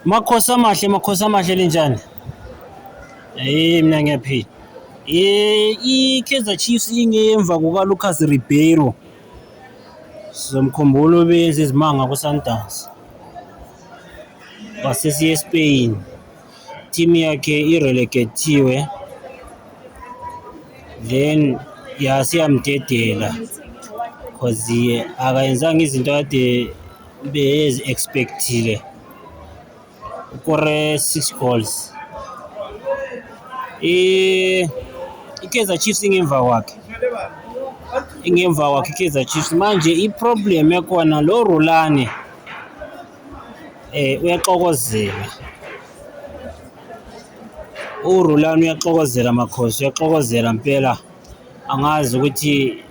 Makhosi amahle, makhosi amahle linjani? Hey mina ngiyaphila. Eh iKaizer Chiefs ingemva kuka Lucas Ribeiro. Sizomkhumbula ubenza izimanga ku Sundowns. Wasesiye eSpain. Team yakhe irelegatiwe. Then yasiyamdedela because akayenzanga izinto kade Bezi expectile ukore 6 goals i iKaizer Chiefs ingemva kwakhe ingemva kwakhe iKaizer Chiefs manje iproblem ekhona lo Rulani eh uyaxokozela uRulani uyaxokozela makhosi uyaxokozela impela angazi ukuthi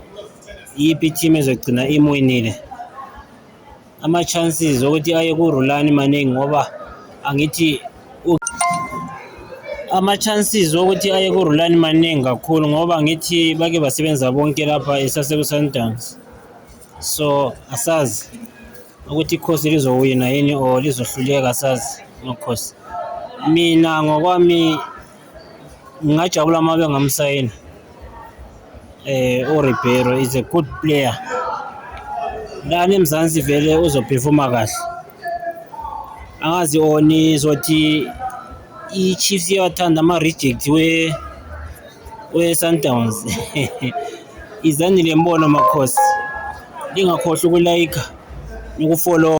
iyiphi i-team ezogcina imwinile ama-chances okuthi aye kurulani maningi ngoba angithi ama-chances okuthi aye kurulani maningi kakhulu ngoba ngithi bake basebenza bonke lapha esasekusundowns so asazi ukuthi ikhosi lizowina yini or lizohluleka asazi nokhosi mina ngokwami ngingajabula uma bengamsayina eh uRibeiro is a good player lana eMzansi vele uzophefuma kahle angazi oni zothi i-Chiefs iyawathanda ama-reject we we-Sundowns izanile mbono makhosi lingakhohlwa ukulayikha nokufollowa